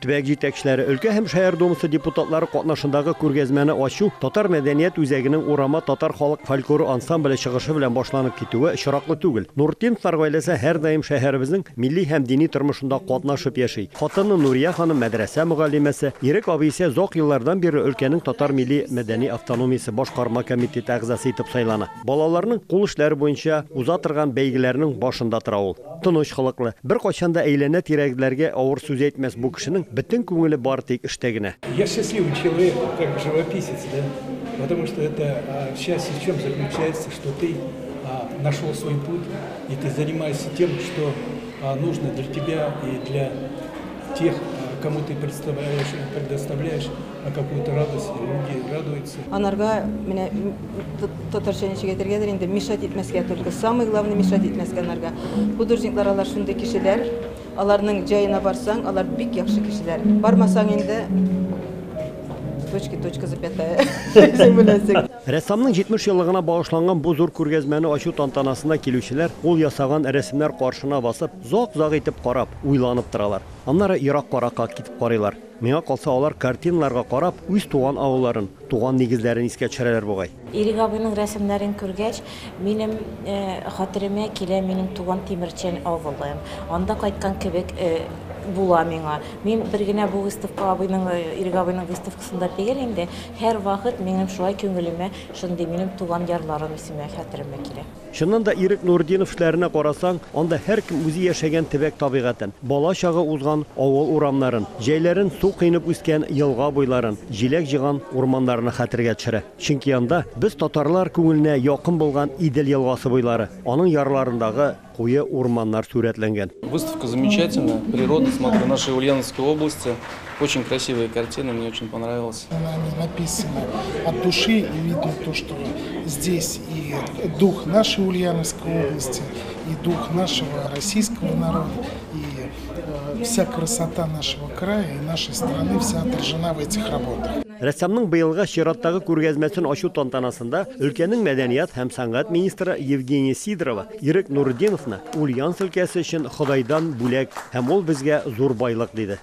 Төбәк җитәкчеләре, өлкә һәм шәһәр думасы депутатлары катнашындагы күргәзмәне ачу татар мәдәният үзәгенең Урама татар халык фольклоры ансамбле чыгышы белән башланып китүе очраклы түгел. Нуртдиновлар гаиләсе һәрдаим шәһәребезнең милли һәм дини тормышында катнашып яши. Хатыны Нурия ханым мәдрәсә мөгаллимәсе, Ирек абый исә озак еллардан бирле өлкәнең татар милли-мәдәни автономиясе башкарма комитеты әгъзасы итеп сайлана. Балаларның кул эшләре буенча уза торган бәйгеләрнең башында тора ул. Тыныч холыклы, беркайчан да әйләнә-тирәгедәләргә авыр сүз әйтмәс бу кешенең бөтен күңеле бары тик эштә генә. Я счастливый человек, как живописец, да, потому что это счастье в чем заключается, что ты нашел свой путь и ты занимаешься тем, что нужно для тебя и для тех, кому ты предоставляешь А какой это радости, люди радуются. Анарга менә татарча ничек әйтергәдер инде мешать итмәскә только. Самый главный мешать итмәскә анарга. Художниклар алар шундый кешеләр. Аларның җаена барсаң, алар бик яхшы кешеләр. Бармасаң инде точки точка запятая. Рәссамның 70 еллыгына багышланган бу зур күргәзмәне ачу тантанасына килүчеләр ул ясаган рәсемнәр каршына басып, зак-зак итеп карап, уйланып торалар. Аннары ерак каракка китеп карыйлар. Миңа калса, алар картиналарга карап, үз туган авылларын, туган нигезләрен искә төшерәләр бугай. Ирек абыйның рәсемнәрен күргәч, минем хәтеремә килә минем туган Тимерчән авылым. Анда кайткан кебек була миңа. Мин бер генә бу выставка абыйның, Ирек абыйның выставкасында тегел инде, һәрвакыт минем шулай күңелемә шундый минем туган ярларым исеме хәтеремә килә. Чыннан да, Ирек Нуртдинов эшләренә карасаң, анда һәркем үзе яшәгән төбәк табигатен, бала-чага узган авыл урамнарын, җәйләрен су коенып үскән елга буйларын, җиләк җыйган урманнарны хәтергә төшерә. Чөнки анда, без татарлар күңеленә якын булган Идел елгасы буйлары, аның ярларындагы куе урманнар сурәтләнгән. Выставка замечательная, природа, смотрю, нашей Ульяновской области. Очень красивая картина, мне очень понравилось. Она написана от души, и видно то, что здесь и дух нашей Ульяновской области, и дух нашего российского народа, и э, вся красота нашего края и нашей страны вся отражена в этих работах. Рәссамның быелгы чираттагы күргәзмәсен ачу тантанасында өлкәнең мәдәният һәм сәнгать министры Евгения Сидорова Ирек Нурдиновны Ульяновск өлкәсе өчен Ходайдан бүләк һәм ул безгә зур байлык диде.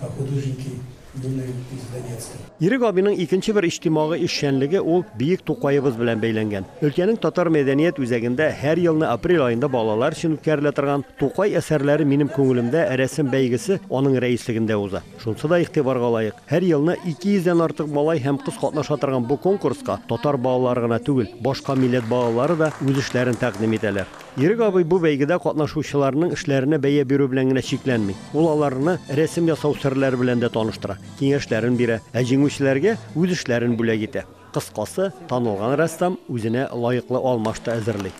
а художники думаю из Донецка. Ирек абыйның икенче бер иҗтимагый эшчәнлеге ул биек Тукаебыз белән бәйләнгән. Өлкәнең татар мәдәният үзәгендә һәр елны апрель аенда балалар өчен үткәрелә торган Тукай әсәрләре минем күңелемдә рәсем бәйгесе аның рәислегендә уза. Шунсы да игътибарга лаек, һәр елны 200 дән артык малай һәм кыз катнаша торган бу конкурска татар балалары гына түгел, башка милләт балалары да үз эшләрен тәкъдим итәләр. Ирек абый бу бәйгедә катнашучыларның эшләренә бәя бирү белән генә чикләнми. Ул аларны рәсем ясау серләре белән дә таныштыра, киңәшләрен бирә, ә җиңүчеләргә үз эшләрен бүләк итә. Кыскасы, танылган рәссам үзенә лаеклы алмаш та әзерли.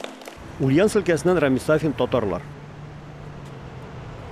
Ульяновск өлкәсеннән Рамис Сафин, Татарлар.